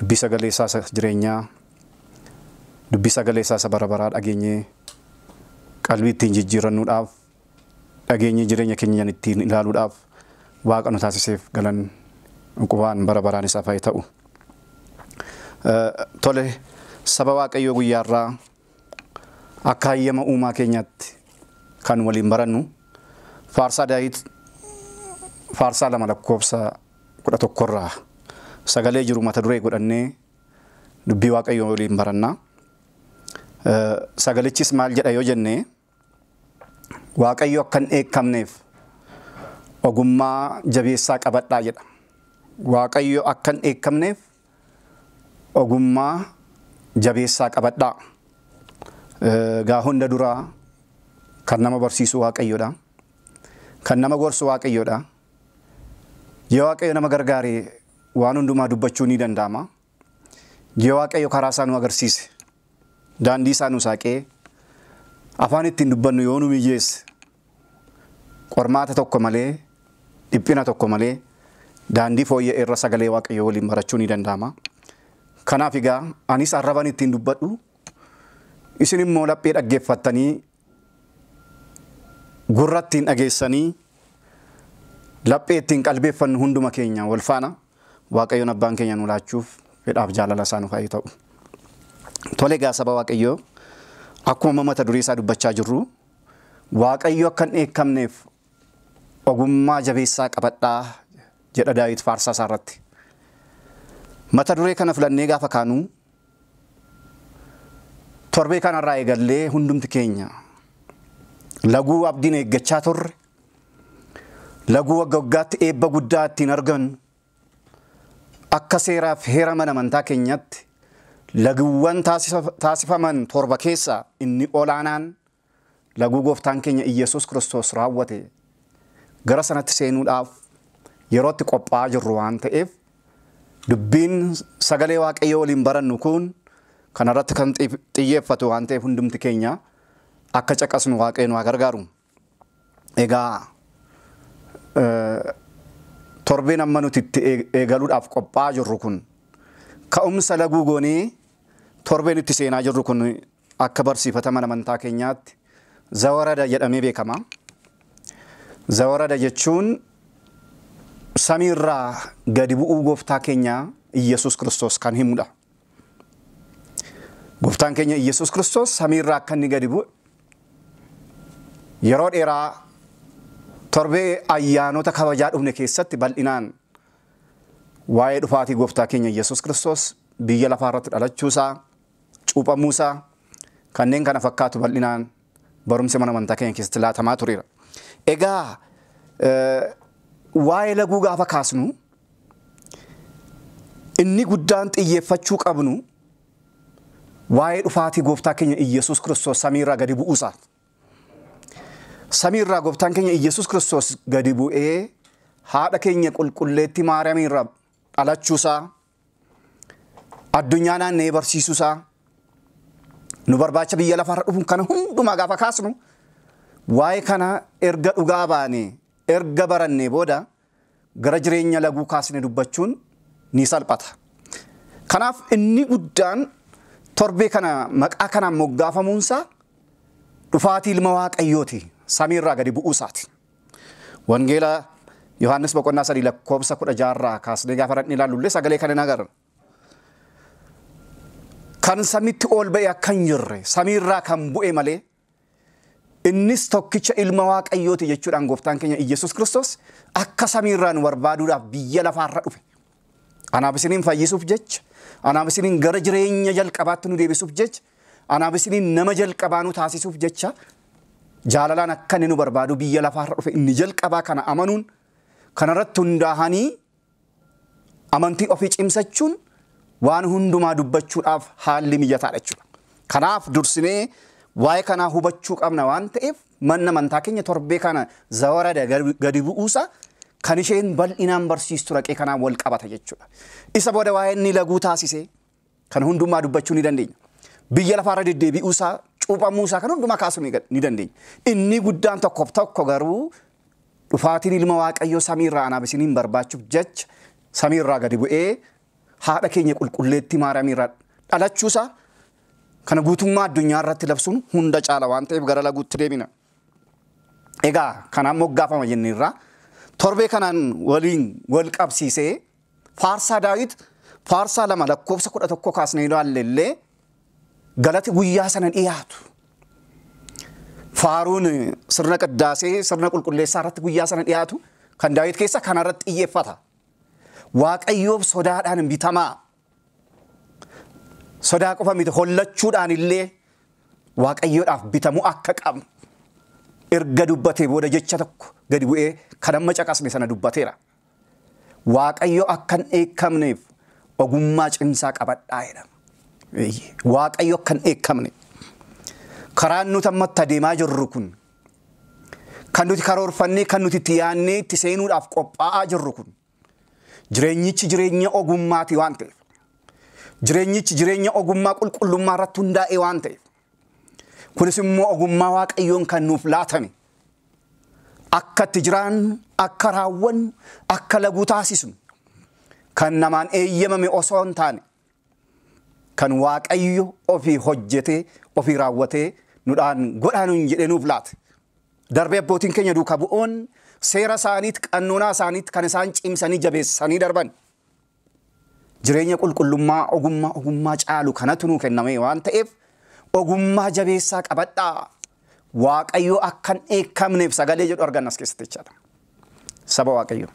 Dubbii sagalee isaa isa jireenyaa, dubbii sagalee isaa isa bara baraa dhageenyee qalbii ittiin jijjiirrannuudhaaf, dhageenyee jireenya keenyan ittiin ilaaluudhaaf Waaqa nu taasiseef galan uqubaan bara baraan isaaf haa ta'u. Tole, saba Waaqayyoo guyyaa irraa akka hayyama uumaa keenyaatti kan waliin barannu faarsaa Daawit faarsaa lama lakkoofsa 11 irraa sagalee jiru mata duree godhannee dubbii waaqayyoo waliin baranna. Sagalichis maal jedha yoo jenne waaqayyo akka hin dheekkamneef ogummaa jabeessaa qabadhaa jedha. Waaqayyo akka hin dheekkamneef ogummaa jabeessaa qabadhaa. Gaa hunda duraa kan nama barsiisu waaqayyodha. Kan nama gorsu waaqayyodha. Yoo Waaqayyo nama gargaare waan hundumaa dubbachuu ni danda'ama. Yoo Waaqayyo karaa isaa nu agarsiise, daandii isaa nu saaqee, afaan ittiin dubbannu yoo nu mijeesse, qormaata tokko malee, dhiphina tokko malee, daandii fooyya'e irra sagalee Waaqayyoo waliin barachuu ni danda'ama. Kanaaf egaa anis arraban ittiin dubbadhu, isin immoo laphee dhaggeeffattanii Gurra ittiin dhageessanii laphee ittiin qalbeeffannu hunduma keenya wal faana Waaqayyoon Abbaan keenya nu laachuuf fedhaaf jaalala isaa nuuf haa ta'u. Tole egaa saba Waaqayyoo akkuma amma mata duree isaa dubbachaa jirru Waaqayyo akka hin dheekkamneef ogummaa jabeessaa qabadhaa jedha Daawit faarsaa isaa irratti. Mata duree kana filannee gaafa kaanu Torbee kanarraa eegallee hundumti keenya laguu abdiin eeggachaa turre, laguu wagga waggaatti eebba guddaa ittiin argannu, akka seeraaf heera mana amantaa keenyatti laguuwwan taasifaman torba keessaa inni olaanaan laguu gooftaan keenya Iyyesuus Kiristoos raawwate gara sanatti seenuudhaaf yeroo itti qophaa'aa jirru waan ta'eef dubbiin sagalee waaqayyoo waliin barannu kun kana irratti kan xi- xiyyeeffatu waan ta'eef hundumti keenya akka caqasnu waaqayyoon waa gargaaru. Egaa eh, torbeen amma nuti itti eeg- eegaluudhaaf qophaa'aa jirru kun ka'umsa laguu goonee torbeen itti seenaa jirru kun Akka barsiifata mana amantaa keenyaatti zawarada jedhamee beekama. Zawarada jechuun samii irraa gadi bu'uu gooftaa keenya Iyyasuus Kiristoos kan himudha. Gooftaan keenya Iyyasuus Kiristoos samii irraa akka inni gadi bu'e yeroo dheeraa torbee ayyaanota kabajaa dhufne keessatti bal'inaan waa'ee dhufaatii gooftaa keenya Iyyasuus Kiristoos biyya lafaa irratti dhalachuusaa cuuphamuusaa, kanneen kana fakkaatu bal'inaan barumsi mana amantaa keenya keessatti laatamaa tureera. Egaa waa'ee laguu gaafa kaasnu inni guddaan xiyyeeffachuu qabnu waa'ee dhufaatii gooftaa keenya Iyyasuus Kiristoos samiirraa gadi bu'uusaaf. Samiirraa gooftaan keenya Iyyasuus Kiristoos gadi bu'ee haadha keenya qulqulleettii Maariyaamiirraa dhalachuusaa addunyaa naanna'ee barsiisuu isaa nu barbaacha biyya lafarra dhufuun kana hundumaa gaafa kaasnu waa'ee kana erga dhugaa baanee erga barannee booda gara jireenya laguu kaasne dubbachuun ni salphata. Kanaaf inni guddaan torbee kana maqaa kanaan moggaafamuunsaa dhufaatii ilma waaqayyooti samiirraa gadi bu'uusaati. Wangeela Yohaannis boqonnaa 3 lakkoofsa 16 irraa kaasnee gaafa dhaqnee ilaallullee sagalee kana hin agarra. Kan samitti ol ba'e akka hin jirre samiirraa kan bu'e malee innis tokkicha ilma waaqayyooti jechuudhaan gooftaan keenya Iyyasuus Kiristoos akka samiirraa nu barbaaduudhaaf biyya lafaarra dhufe. Anaaf isiniin fayyisuuf jecha, anaaf isiniin gara jireenya jalqabaatti nu deebisuuf jecha Anaaf isiniin nama jalqabaa nu taasisuuf jecha jaalalaan akka inni nu barbaadu biyya lafaa irra dhufe inni jalqabaa kana amanuun kanarratti hundaa'anii amantii ofii cimsachuun waan hundumaa dubbachuudhaaf haalli mijataadha jechuudha. Kanaaf dursinee waa'ee kanaa hubachuu qabna waan ta'eef manna amantaa keenya torbee kana zawarada gadi bu'uusa kan isheen bal'inaan barsiistu raqee kanaan wal qabata jechuudha. Isa booda waa'ee inni laguu taasisee Kana hundummaa dubbachuu ni dandeenya. Biyya lafaa irra deddeebi'uu isaa, cuuphamuu isaa kan hundumaa kaasuu ni ga- ni dandeenya. Inni guddaan tokkoof tokko garuu dhufaatiin ilma Waaqayyoo samii irraa anaaf isiniin barbaachuuf jecha samii irraa gadi bu'ee haadha keenya qulqulleettii Maariyaamii irraa dhalachuu isaa kana guutummaa addunyaa irratti labsuun hunda caala waan ta'eef gara laguutti deebina. Egaa kanaan moggaafama jenneerra. Torbee kanaan waliin wal qabsiisee Faarsaa Daawit faarsaa lama lakkoofsa kudha tokko kaasnee ilaalle illee galati guyyaa sana dhiyaatu. Faaruun sirna qiddaasee sirna qulqulleessaa irratti guyyaa sana dhiyaatu kan Daawit keessa kana irratti xiyyeeffata. Waaqayyoof sodaadhaan hin bitamaa. Sodaa qofa miti hollachuudhaan illee waaqayyoodhaaf bitamu akka qabnu erga dubbatee booda jecha tokko gadi bu'ee kan amma caqasne sana dubbateera. Waaqayyo akka hin dheekkamneef ogummaa cimsaa qabadhaa jedhama. Eeyyee, Waaqayyo akka hin dheekkamne. Karaan nuti amma itti adeemaa jirru kun, kan nuti karoorfannee, kan nuti itti yaadnee itti seenuudhaaf qophaa'aa jirru kun, jireenyichi jireenya ogummaati waan ta'eef, jireenyichi jireenya ogummaa qulqullummaa irratti hundaa'e waan ta'eef, Kunis immoo ogummaa Waaqayyoon kan nuuf laatame. Akka itti jiraannu, akka raawwannu, akka laguu taasisnu kan namaan eeyyamame osoo hin taane kan Waaqayyo ofii hojjetee ofii raawwatee nudhaan godhaa nuun jedhee nuuf laate. Darbee abbootiin keenya duuka bu'oon seera isaaniitti qannoonaa isaaniitti kan isaan cimsanii jabeessanii darban. Jireenya qulqullummaa ogummaa ogummaa caalu kanatu nuu kenname waan ta'eef ogummaa jabeessaa qabadhaa. Waaqayyo akka hin dheekkamneef sagalee jedhu arganna as keessatti jechaadha. Saba Waaqayyo.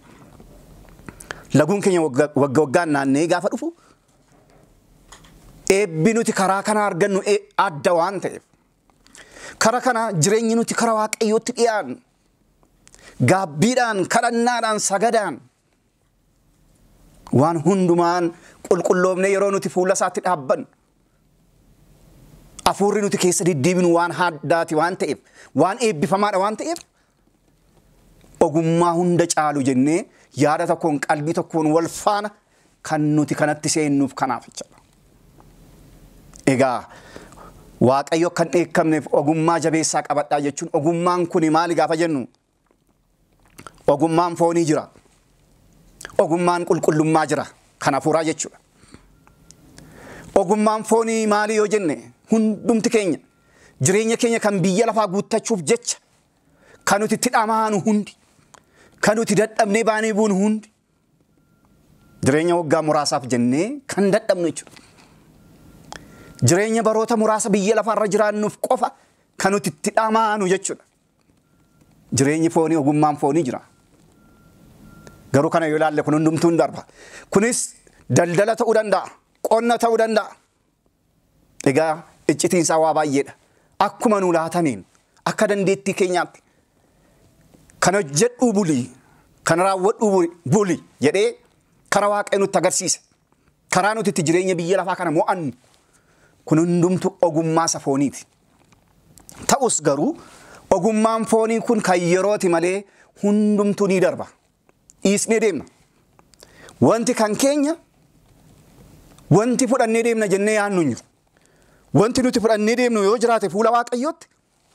Laguun keenya wagga wagga waggaan naanna'ee gaafa dhufu eebbi nuti karaa kana argannu e- adda waan ta'eef kara kana jireenyi nuti kara Waaqayyootti dhiyaannu gaabbiidhaan, kadhannaadhaan, sagadaan Waan hundumaan qulqulloofne yeroo nuti fuula isaatti dhaabbannu afuurri nuti keessa deddeebinu waan haddaati waan ta'eef waan eebbifamaadha waan ta'eef ogummaa hunda caalu jennee yaada tokkoon qalbii tokkoon wal faana kan nuti kanatti seennuuf kanaaf jechuudha. Egaa Waaqayyo kan dheekkamneef ogummaa jabeessaa qabadhaa jechuun ogummaan kun maali gaafa jennu Ogummaan foonii jira. Ogummaan qulqullummaa jira. Kan hafuuraa jechuudha. Ogummaan foonii maali yoo jenne hundumti keenya jireenya keenya kan biyya lafaa guuttachuuf jecha kan nuti itti dhamaanu hundi kan nuti dadhabnee baanee buunu hundi jireenya waggaa muraasaaf jennee kan dadhabnu jechuudha. Jireenya baroota muraasa biyya lafaarra jiraannuuf qofa kan nuti itti dhamaanu jechuudha. Jireenyi foonii ogummaan foonii jira. Garuu kana yoo ilaalle kun hundumtuu hin darba. Kunis daldala ta'uu danda'a, qonna ta'uu danda'a. Egaa iccitiin isaa waa baay'eedha. Akkuma nu laatameen akka dandeettii keenyaatti kan hojjedhuu bulii, kan raawwadhuu buli jedhee kara waaqayyo nutti agarsiise. Karaa nuti itti jireenya biyya lafaa kana mo'annu kun hundumtu ogummaa isa fooniiti. Ta'us garuu ogummaan foonii kun kan yerooti malee hundumtuu ni darba. Dhiisnee deemna. Wanti kan keenya wanti fudhannee deemna jennee yaadnu hin jiru. Wanti nuti fudhannee deemnu yoo jiraate fuula waaqayyootti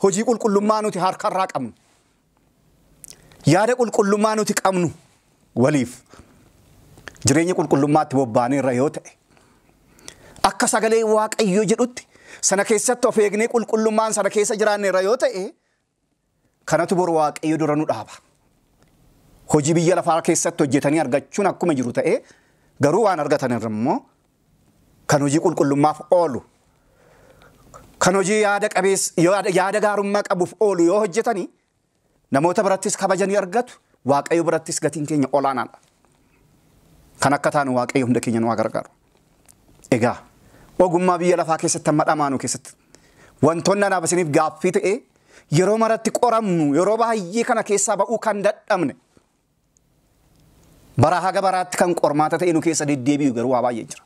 hojii qulqullummaa nuti harkarraa qabnu Yaada qulqullummaa nuti qabnu waliif jireenya qulqullummaatti bobbaaneerra yoo ta'e akka sagalee waaqayyoo jedhutti sana keessatti of eegnee qulqullummaan sana keessa jiraanneerra yoo ta'e kanatu boru waaqayyo dura nu dhaaba. Hojii biyya lafaa keessatti hojjetanii argachuun akkuma jiru ta'ee garuu waan argatan irra immoo kan hojii qulqullummaaf oolu, kan hojii yaada qabeessa, yaada yaada gaarummaa qabuuf oolu yoo hojjetani namoota birattis kabaja ni argatu, Waaqayyo birattis gatiin keenya olaanaadha. Kan akka taanu Waaqayyo hunda keenya nu haa gargaaru. Egaa ogummaa biyya lafaa keessatti amma dhamaanu keessatti wantoonni anaaf isiniif gaaffii ta'ee yeroo maratti qoramnu yeroo baay'ee kana keessaa ba'uu kan dadhabne Baraa haga baraatti kan qormaata ta'e nu keessa deddeebi'u garuu waa baay'ee jira.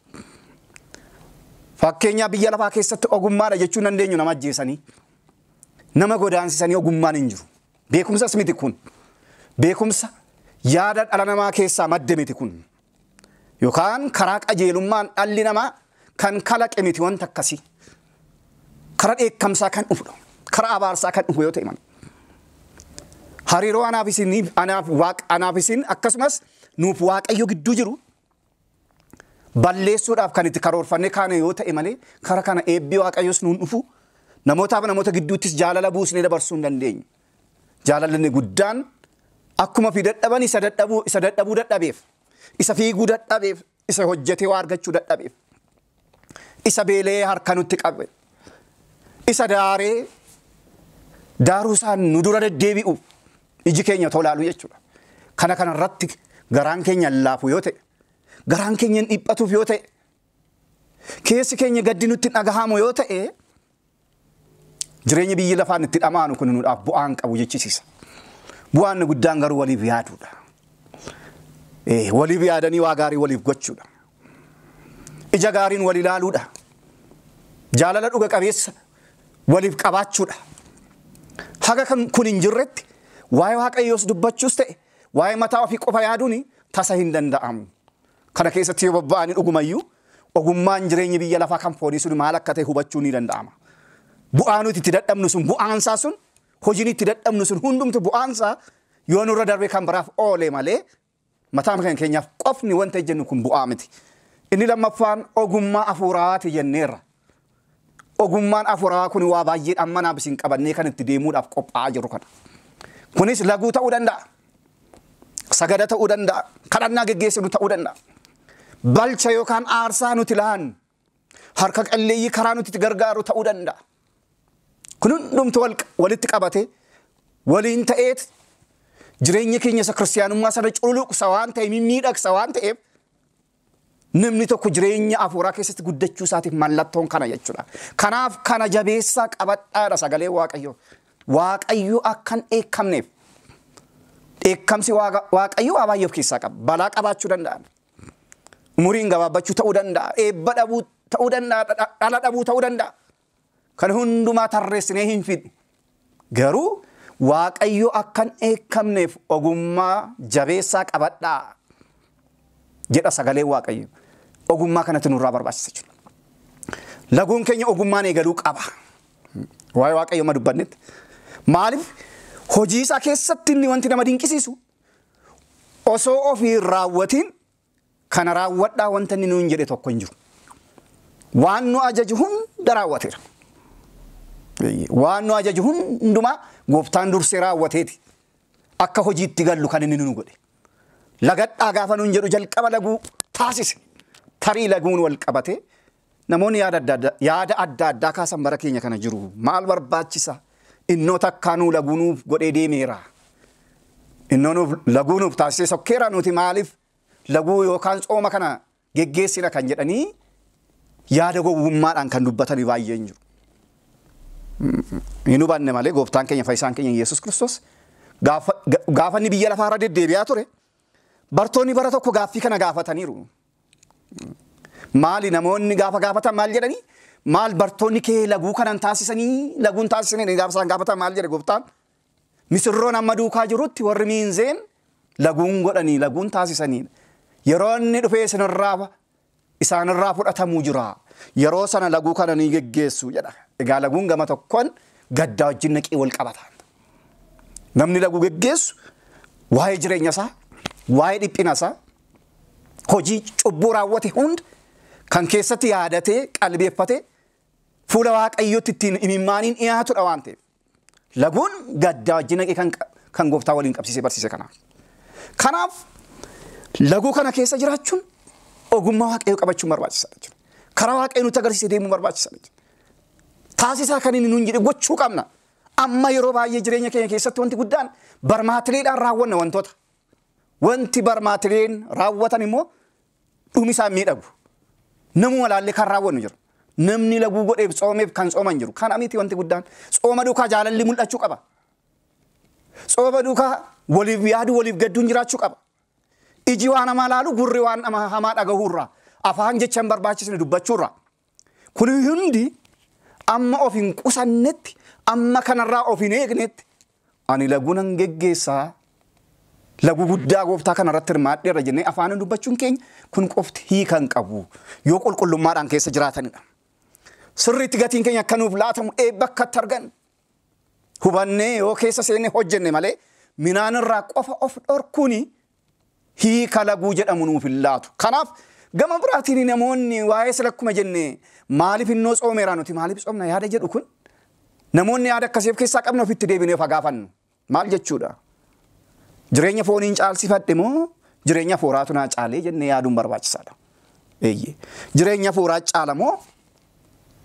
Fakkeenyaa biyya lafaa keessatti ogummaadha jechuu dandeenyu nama ajjeesanii nama godaansisanii ogummaan hin jiru. Beekumsas miti kun. Beekumsa yaada dhala namaa keessaa madde miti kun. Yookaan karaa qajeelummaan dhalli namaa kan kalaqe miti wanta akkasii. Karaa dheekkamsaa kan dhufudha. Karaa abaarsaa kan dhufu yoo ta'e malee. Hariiroo anaaf isin anaaf waaq anaaf isin akkasumas nuuf waaqayyo gidduu jiru balleessuudhaaf kan itti karoorfannee kaane yoo ta'e malee karaa kana eebbi waaqayyos nuun dhufu namootaaf namoota gidduuttis jaalala buusnee dabarsuu hin dandeenyu. Jaalalli inni guddaan akkuma fi dadhaban isa dadhabuu isa dadhabuu dadhabeef isa fiiguu dadhabeef isa hojjetee waa argachuu dadhabeef isa beelee harka nutti qabe isa daaree daaruu isaan nu dura deddeebi'uuf iji keenya tolaalu jechuudha. Kana kana irratti garaan keenya laafu yoo ta'e garaan keenya hin dhiphatuuf yoo ta'e keessi keenya gaddi nutti dhagahamu yoo ta'e Jireenyi biyyi lafaan itti dhamaanu kun nuudhaaf bu'aa hin qabu jechisiisa. Bu'aan inni guddaan garuu waliif yaaduudha. Eh, Waliif yaadanii waa gaarii waliif gochuudha. Ija gaariin wal ilaaluudha. Jaalala dhuga qabeessa waliif qabaachuudha. Haga kan kun hin jirretti waa'ee waaqayyoos dubbachuus ta'e waa'ee mataa ofii qofa yaaduun tasa hin danda'amu. kana keessatti yoo bobba'ani dhugumayyuu ogummaan jireenyi biyya lafaa kan foonii sun maal akka ta'e hubachuu ni danda'ama. Bu'aa nuti itti dadhabnu sun bu'aansaa sun hojiin itti dadhabnu sun hundumtu bu'aansaa yoo nurra darbee kan biraaf oole malee mataa kan keenyaaf qofni wanta jennu kun bu'aa miti. Inni lammaffaan ogummaa afuuraati jenneerra. Ogummaan afuurawaa kun waa baay'eedha amma naaf isin qabannee kan itti deemuudhaaf qophaa'aa jirru kana. Kunis laguu ta'uu danda'a. Sagada ta'uu danda'a. Kadhannaa geggeessinu ta'uu danda'a. Balcha yookaan aarsaa nuti laannu harka qalleeyyii karaa nuti itti gargaaru ta'uu danda'a. Kun hundumtu wal- walitti qabatee waliin ta'eet jireenya keenya isa kiristiyaanummaa sana culuqsa waan ta'e mimmiidhagsa waan ta'eef Namni tokko jireenya hafuuraa keessatti guddachuu isaatiif mallattoon kana jechuudha. Kanaaf kana jabeessaa qabadhaadha sagalee Waaqayyoo. Waaqayyo akka hin dheekkamneef. Dheekkamsi Waaqa- Waaqayyoo waa baay'ee of keessaa qaba. Balaa qabaachuu danda'a. Umuriin gabaabbachuu ta'uu danda'a. Eebba dhabuu ta'uu danda'a. dha- Dhala dhabuu ta'uu danda'a. Kana hundumaa tarreessinee hin fixnu. Garuu Waaqayyo akka hin dheekkamneef ogummaa jabeessaa qabadhaa jedha sagaleen Waaqayyo. Ogummaa kanatu nurraa barbaachisa jechuudha. Laguun keenya ogummaan eegaluu qaba. Waa'ee Waaqayyo amma dubbannetti. Maaliif hojii isaa keessatti inni wanti nama dinqisiisu osoo ofii hin raawwatiin Kana raawwadhaa wanta inni nuun jedhe tokko hin jiru. Waan nu ajaju hunda raawwateera. Waan nu ajaju hundumaa gooftaan dursee raawwateeti akka hojiitti gallu kan inni nu godhe. Lagadhaa gaafa nuun jedhu jalqaba laguu taasise. Tarii laguun wal qabatee Namoonni yaada adda adda yaada adda addaa kaasan bara keenya kana jiru. Maal barbaachisa? Innoo takkaa nuu laguu nuuf godhee deemeera. Innoo nuuf laguu nuuf taasisee sokkeera nuti maaliif laguu yookaan tsooma kana geggeessina kan jedhanii yaada gowwummaadhaan kan dubbatanii baay'een jiru. Hin hubanne malee gooftaan keenya fayyisaan keenya Yesuus Kiristoos gaafa inni biyya lafaa irra deddeebi'aa ture bartoonni bara tokko gaaffii kana gaafataniiru. Maali namoonni gaafa gaafatan maal jedhanii? Maal bartoonni kee laguu kanan taasisanii laguun taasisanii gaafa isaan gaafatan maal jedhe gooftaan? Misirroon amma duukaa jirutti warri miinzeen laguun godhanii laguun taasisanii yeroo inni dhufee isinirraa isaanirraa fudhatamuu jira. Yeroo sana laguu kana ni geggeessu jedha. Egaa laguun gama tokkoon gaddaa wajjin naqii wal qabata. Namni laguu geggeessu waa'ee jireenya isaa, waa'ee dhiphina isaa, hojii cubbuu raawwate hunda kan keessatti yaadatee qalbeeffatee fuula waaqayyootti ittiin imimmaaniin dhiyaatudha waan ta'eef. Laguun gaddaa wajjin dhaqee kan, kan gooftaa waliin qabsiisee barsiise kanaaf. Kanaaf laguu kana keessa jiraachuun ogummaa waaqayyoo qabachuun barbaachisaadha jechuudha. Karaa waaqayyoo nutti agarsiisee deemuun barbaachisaadha jechuudha. Taasisaa kan inni nuun jedhe gochuu qabna. Amma yeroo baay'ee jireenya keenya keessatti wanti guddaan barmaatileedhaan raawwanna wantoota. Wanti barmaatileen raawwatan immoo dhumi isaa hin miidhagu. Namuma laallee kan raawwannu jira. Namni laguu godheef tsoomeef kan tsooman jiru. Kana miti wanti guddaan. Tsooma duukaa jaalalli mul'achuu qaba. Tsooma duukaa waliif yaadu waliif gadduun jiraachuu qaba. Iji waan hamaa laalu gurri waan nama hamaa dhagahuurraa afaan jecha hin barbaachisne dubbachuurraa Kun hundi amma of hin qusannetti, amma kanarraa of hin eegnetti, ani laguu nan geggeessaa, laguu guddaa gooftaa kanarratti hirmaadheerra jennee afaaniin dubbachuun keenya kun qofti hiika hin qabu. Yoo qulqullummaadhaan keessa jiraatanidha. Sirriitti gatiin keenya akka nuuf laatamu eebba akka itti argannu hubannee yoo keessa seenne hojjenne malee minaan irraa qofa of dhorkuun hiika laguu jedhamu nuuf hin laatu. Kanaaf gama biraatiin namoonni waa'ee sila akkuma jenne maaliif innoo tsoomeera nuti maaliif tsoomna yaada jedhu kun namoonni yaada akkasii of keessaa qabna ofitti deebinee of haa gaafannu. Maal jechuudha? Jireenya fooniin caalsifadhe moo jireenya hafuuraatu naa caalee jennee yaaduun barbaachisaadha. Eeyyee. Jireenya hafuuraa caala moo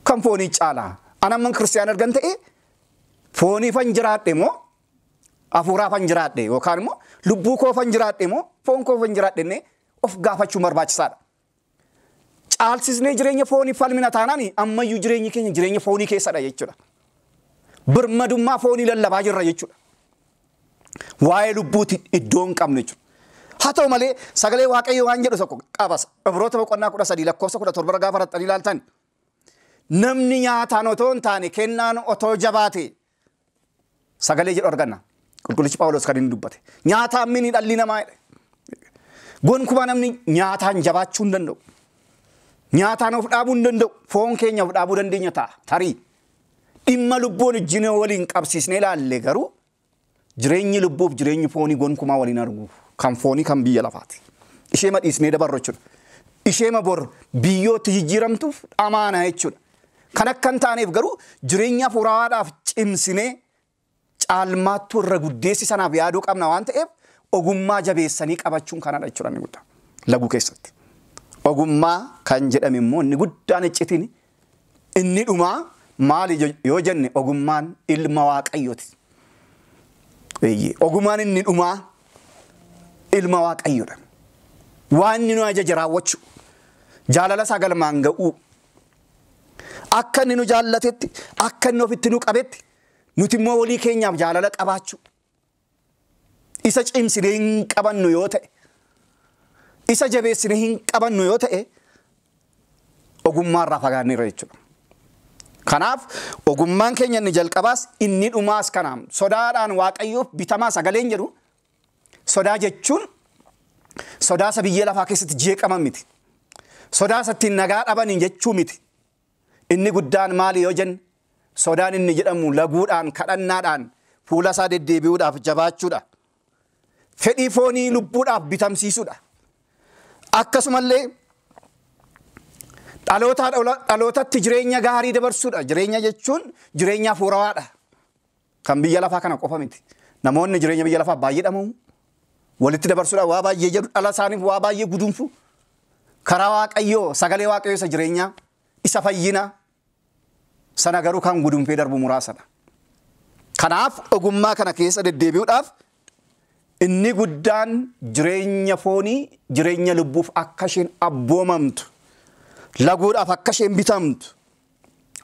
kan foonii caala? Ana amman kiristiyaana ergan ta'e fooniifan jiraadhe moo hafuuraafan jiraadhe yookaan immoo lubbuu koofan jiraadhe moo foon koofan jiraadhe jennee of gaafachuun barbaachisaadha. Caalsisnee jireenya foonii falmina taanaan ammayyuu jireenyi keenya jireenya foonii keessadha jechuudha. Birmadummaa foonii lallabaa jirra jechuudha. Waa'ee lubbuuti iddoo hin qabne jechuudha. Haa ta'u malee sagalee waaqayyoo waan jedhu tokko qabasa. Ibroota boqonnaa kudha sadii lakkoofsa kudha torba gaafa raxxanii ilaaltan namni nyaataan otoo hin taane kennaan otoo jabaate sagalee jedhu arganna. Qulqullichi Phaawulos kan inni dubbate. Nyaataan mini dhalli namaa jedhe. Gonkumaa namni nyaataan jabaachuu hin danda'u. Nyaataan of dhaabuu hin danda'u. Foon keenya of dhaabuu dandeenya ta'a. Tarii dhimma lubbuun wajjin waliin qabsiisnee ilaalle garuu Jireenyi lubbuuf jireenyi foonii gonkumaa wal hin argu. Kan foonii kan biyya lafaati. Isheema dhiisnee dabarru jechuudha. Isheema bor biyyootti jijjiiramtuuf dhamaana jechuudha. Kan akka hin taaneef garuu jireenya hafuuraawaadhaaf cimsinee caalmaattuu irra guddeessi sanaaf yaaduu qabna waan ta'eef ogummaa jabeessanii qabachuun kanadha jechuudha inni guddaa. Laguu keessatti. Ogummaa kan jedhame immoo inni guddaan iccitiin Inni dhumaa maali yoo jenne ogummaan ilma waaqayyooti. Eeyyee ogummaan inni dhumaa ilma waaqayyoodha. Waan inni nu ajaje raawwachuu, jaalala isaa galmaan ga'uu, akka inni nu jaallatetti, akka inni ofitti nu qabetti, nuti immoo walii keenyaaf jaalala qabaachuu, isa cimsinee hin qabannu yoo ta'e, isa jabeessinee hin qabannu yoo ta'e, ogummaarraa fagaanneerra jechuudha. Kanaaf ogummaan keenya inni jalqabaas inni dhumaas kanaam sodaadhaan waaqayyoof bitamaa sagaleen jedhu sodaa jechuun sodaa isa biyyee lafaa keessatti jeeqaman miti. Sodaa isa ittiin nagaa dhabaniin jechuu miti. Inni guddaan maali yoo jenne, sodaan inni jedhamu laguudhaan, kadhannaadhaan, fuula isaa deddeebi'uudhaaf jabaachuudha. Fedhii foonii lubbuudhaaf bitamsiisuudha. Akkasumallee dhalootaa dhalootatti jireenya gaarii dabarsuudha. Jireenya jechuun jireenya hafuurawaadha. Kan biyya lafaa kana qofa miti. Namoonni jireenya biyya lafaa baay'ee dhama'u. Walitti dabarsuudhaan waa baay'ee jedhu dhala isaaniif waa baay'ee gudunfu. Karaa waaqayyoo sagalee waaqayyoo isa jireenyaa isa fayyinaa sana garuu kan gudunfee darbu muraasadha. Kanaaf ogummaa kana keessa deddeebi'uudhaaf inni guddaan jireenya foonii jireenya lubbuuf akka isheen abboomamtu laguudhaaf akka isheen bitamtu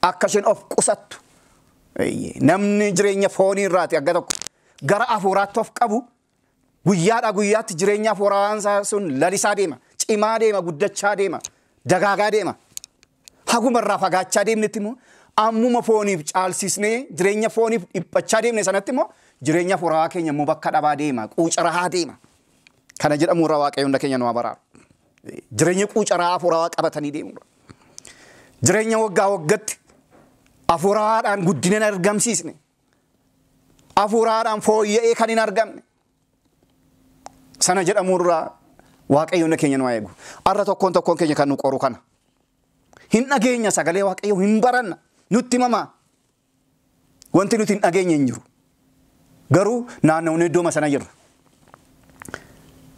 akka isheen of qusattu Eeyyee, namni jireenya foonii irraati agga tokko gara hafuuraatti of qabu guyyaadhaa guyyaatti jireenya hafuuraan isaa sun lalisaa deema cimaa deema guddachaa deema dagaagaa deema haguma irraa fagaachaa deemnetti immoo ammuma fooniif caalsisnee jireenya fooniif dhiphachaa deemne sanatti immoo jireenya hafuuraa keenya immoo bakka dhabaa deema quucarahaa deema kana jedhamu irraa waaqayyoon keenya nu haa baraaru. Jireenya quucaraa afuurawaa qabatanii deemuudha. Jireenya waggaa waggatti afuuraadhaan guddina hin argamsiisne. Afuuraadhaan fooyya'ee kan hin argamne. Sana jedhamuurraa waaqayyoon keenya nu eegu. Har'a tokkoon tokkoon keenya kan nu qoru kana. Hin dhageenya sagalee waaqayyoo hin baranna. Nutti himamaa. Wanti nuti hin dhageenye hin jiru. Garuu naannawne iddooma sana jirra.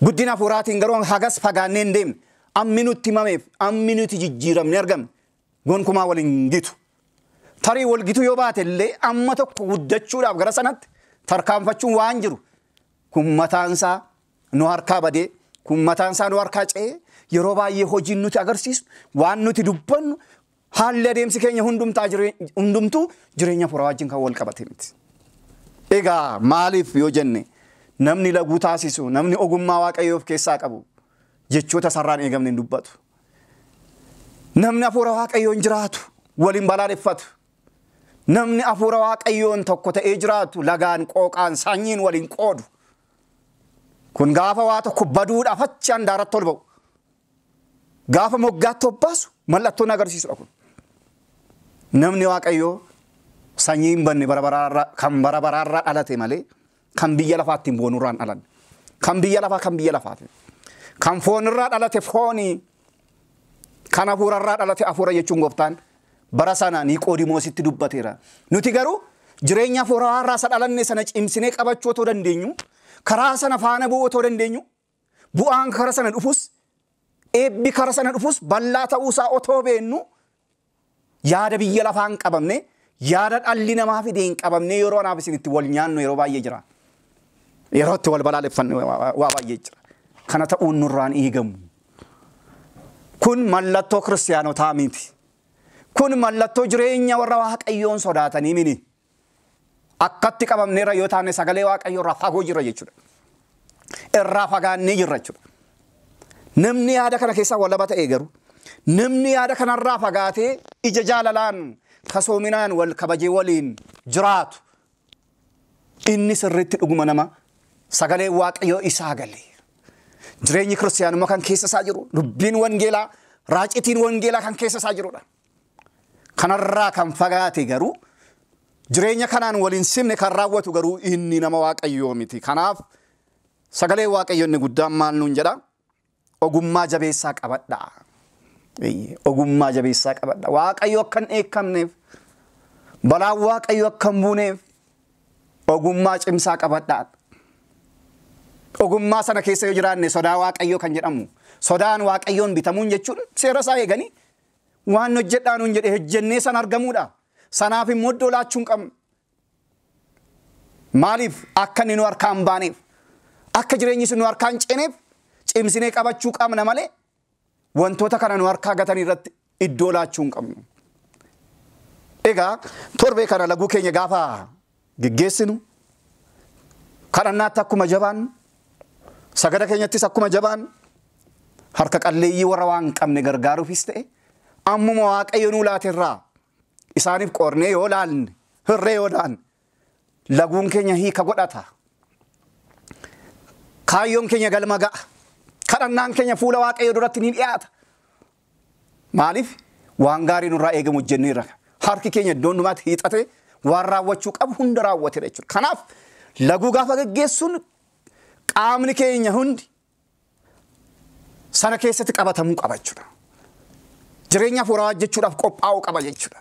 Guddina hafuuraatiin garuu hagas fagaannee hin deemne. Ammi nutti himameef ammi nuti jijjiiramne argamne gonkumaa wal hin gitu. Tarii wal gitu yoo baate illee amma tokko guddachuudhaaf gara sanatti tarkaanfachuun waan jiru kun mataansaa nu harkaa badee kun mataansaa nu harkaa ce'ee yeroo baay'ee hojiin nuti agarsiisnu waan nuti dubbannu Haalli adeemsi keenya hundumtaa jiree- hundumtuu jireenya furaa wajjin kan wal qabate miti. Egaa maaliif yoo jenne namni laguu taasisu, namni ogummaa waaqayyoo of keessaa qabu jechoota sarraan eegamne hin dubbatu. Namni hafuura waaqayyoon jiraatu waliin balaaleffatu. Namni hafuura waaqayyoon tokko ta'ee jiraatu lagaan qooqaan sanyiin waliin qoodu. Kun gaafa waa tokko baduudhaaf achi handaaratti ol ba'u. Gaafa moggaatti obbaasu mallattoon agarsiisudha kun. Namni Waaqayyoo sanyii hin banne bara baraarra kan bara baraarra dhalate malee kan biyya lafaa ittiin boonurraa hin dhalanne. Kan biyya lafaa kan biyya lafaati. Kan foonirraa dhalate foonii kan hafuurarraa dhalate hafuura jechuun gooftaan bara sana Niqoodimoositti dubbateera. Nuti garuu jireenya hafuuraarraa isa dhalanne sana cimsinee qabachuu otoo dandeenyu karaa sana faana bu'uu otoo dandeenyu Bu'aan kara sana dhufus, eebbi kara sana dhufus bal'aa ta'uu isaa otoo beennuu yaada biyya lafaa hin qabamne, yaada dhalli namaa fide hin qabamne yeroo anaaf isin itti wal nyaannu yeroo baay'ee jira. Yeroo itti wal balaaleffannu waa baay'ee jira. Kana ta'uun nurraan eegamu. Kun mallattoo kiristiyaanotaa miti. Kun mallattoo jireenya warra Waaqayyoon sodaatanii miti. Akkatti qabamneerra yoo taane sagalee Waaqayyoo irraa fagoo jirra jechuudha. Irraa fagaannee jirra jechuudha. Namni yaada kana keessaa walaba ta'e garuu namni yaada kanarraa fagaatee ija jaalalaan kasoominaan wal kabajee waliin jiraatu inni sirriitti dhuguma nama sagalee Waaqayyoo isaa galee jireenyi kiristiyaanummaa kan keessa isaa jiru dubbiin wangeelaa raacitiin wangeelaa kan keessa isaa jirudha. Kanarraa kan fagaate garuu jireenya kanaan wal hin simne kan raawwatu garuu inni nama Waaqayyoo miti. Kanaaf sagalee Waaqayyo inni guddaan maal nuun jedha? Ogummaa jabeessaa qabadhaa. Eeyyee, Ogummaa jabeessaa qabadha. Waaqayyo akka hin dheekkamneef, balaan Waaqayyo akka hin buuneef ogummaa cimsaa qabadhaa. Ogummaa sana keessa yoo jiraanne sodaa Waaqayyoo kan jedhamu sodaan Waaqayyoon bitamuun jechuun seera isaa eeganii Waan hojjedhaa nuun jedhe hojjennee san argamuudha. Sanaaf immoo iddoo laachuu hin qabnu. Maaliif akka inni nu harkaa hin baaneef akka jireenyi sun nu harkaa hin ceeneef cimsinee qabachuu qabna malee wantoota kana nu harkaa gatan irratti iddoo laachuu hin qabnu. Egaa torbee kana laguu keenya gaafa geggeessinu, kadhannaatti akkuma jabaannu, sagada keenyattis akkuma jabaannu, harka qalleeyyii warra waan qabne gargaaruufis ta'e, ammuma Waaqayyo nuu laate irraa isaaniif qoodnee yoo laalle, hirree yoo laalle, laguun keenya hiika godhata. Kaayyoon keenya galma ga'a. Kadhannaan keenya fuula Waaqayyo duratti ni dhiyaata. Maaliif? Waan gaarii nurraa eegamu hojjenneerra. Harki keenya iddoo hundumaatti hiixatee waan raawwachuu qabu hunda raawwateera jechuudha. Kanaaf laguu gaafa geggeessuun qaamni keenya hundi sana keessatti qabatamuu qaba jechuudha. Jireenya hafuuraa hojjechuudhaaf qophaa'uu qaba jechuudha.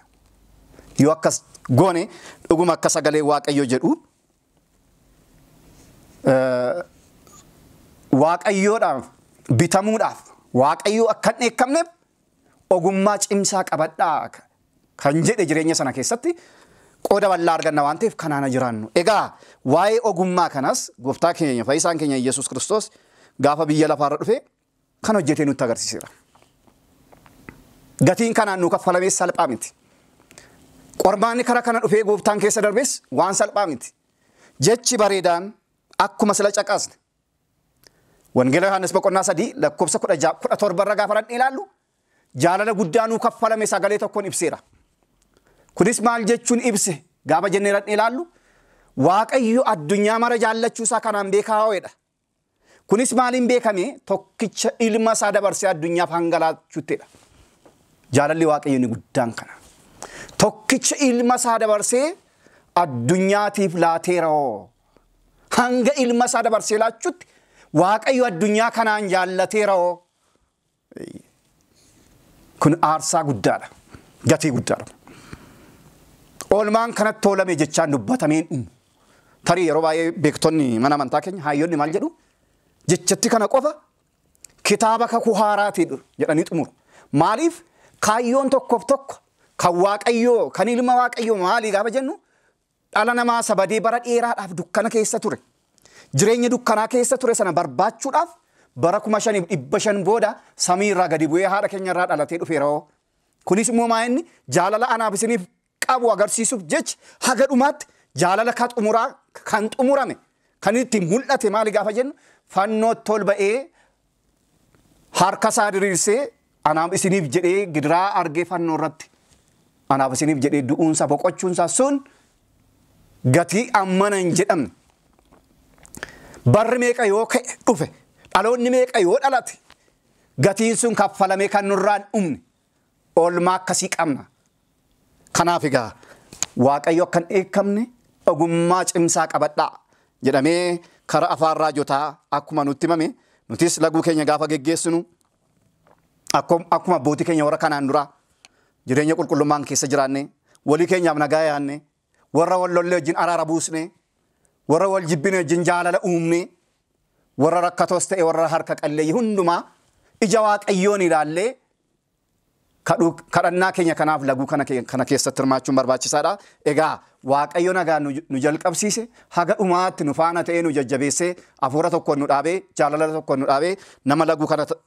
Yoo akkas goone dhuguma akka sagalee Waaqayyoo jedhu waaqayyoodhaaf bitamuudhaaf waaqayyoo akka hin dheekkamneef ogummaa cimsaa qabadhaa kan jedhe jireenya sana keessatti qooda bal'aa arganna waan ta'eef kanaana jiraannu. Egaa waa'ee ogummaa kanas gooftaa keenya fayyisaan keenya Yesuus Kiristoos gaafa biyya lafaarra dhufe kan hojjetee nutti agarsiiseera. Gatiin kanaan nuu kaffalamees salphaa miti. Qormaanni kara kana dhufee gooftaan keessa darbees waan salphaa miti. Jechi bareedaan akkuma sila caqasne Wangeela Yohaannis boqonnaa sadii lakkoofsa kudha ja'a kudha torba irra gaafa dhaqnee ilaallu jaalala guddaa nuu kaffalame sagalee tokkoon ibseera. Kunis maal jechuun ibse gaafa jennee dhaqnee ilaallu Waaqayyo addunyaa mara jaallachuu isaa kanaan beekaa ho'edha. Kunis maaliin beekame tokkicha ilma isaa dabarsee addunyaaf hanga laachuuttidha. Jaalalli Waaqayyo inni guddaan kana. Tokkicha ilma isaa dabarsee addunyaatiif laateera'oo. Hanga ilma isaa dabarsee laachuutti Waaqayyo addunyaa kanaan jaallateera'oo. Kun aarsaa guddaadha. Gatii guddaadha. Oolmaan kanatti oolame jechaan dubbatameen dhumu. Tarii yeroo baay'ee beektonni mana amantaa keenya hayyonni maal jedhu? Jechatti kana qofa kitaaba kakuu haaraati jedhanii xumuru. Maaliif kaayyoon tokkoof tokko kan waaqayyoo kan ilma waaqayyoo maalii gaafa jennu Dhala namaa isa badee bara dheeraadhaaf dukkana keessa ture, jireenya dukkanaa keessa ture sana barbaachuudhaaf bara 5500 booda samii irraa gadi bu'ee haadha keenya irraa dhalatee dhufeera'oo. Kunis immoo maa inni jaalala anaaf isiniif qabu agarsiisuuf jecha haga dhumaatti jaalala ka xumuraa kan xumurame kan inni ittiin mul'ate maali gaafa jennu fannootti ol ba'ee harka isaa diriirsee anaaf isiniif jedhee gidiraa argee fannoo irratti anaaf isiniif jedhee du'uunsa boqochuunsa sun gatii ammana hin jedhamne. Barri meeqa yoo ka'e dhufe dhaloonni meeqa yoo dhalate gatiin sun kaffalamee kan nurraan dhumne oolmaa akkasii qabna. Kanaaf egaa Waaqayyo akka hin dheekkamne ogummaa cimsaa qabadhaa jedhamee karaa afaan raajotaa akkuma nutti himame nutis laguu keenya gaafa geggeessinu akkum- akkuma abbootii keenya warra kanaan duraa jireenya qulqullummaan keessa jiraanne walii keenyaaf nagaa yaanne warra wal lollee wajjin araara buusnee, warra wal jibbine wajjin jaalala uumnee, warra rakkatoos ta'e warra harka qalleeyyii hundumaa ija Waaqayyoon ilaallee kadhuu- kadhannaa keenya kanaaf laguu kana ke- kana keessatti hirmaachuun barbaachisaadha. Egaa Waaqayyo nagaan nu nu jalqabsiise haga dhumaatti nu faana ta'ee nu jajjabeessee hafuura tokkoon nu dhaabee jaalala tokkoon nu dhaabee nama laguu kana ta-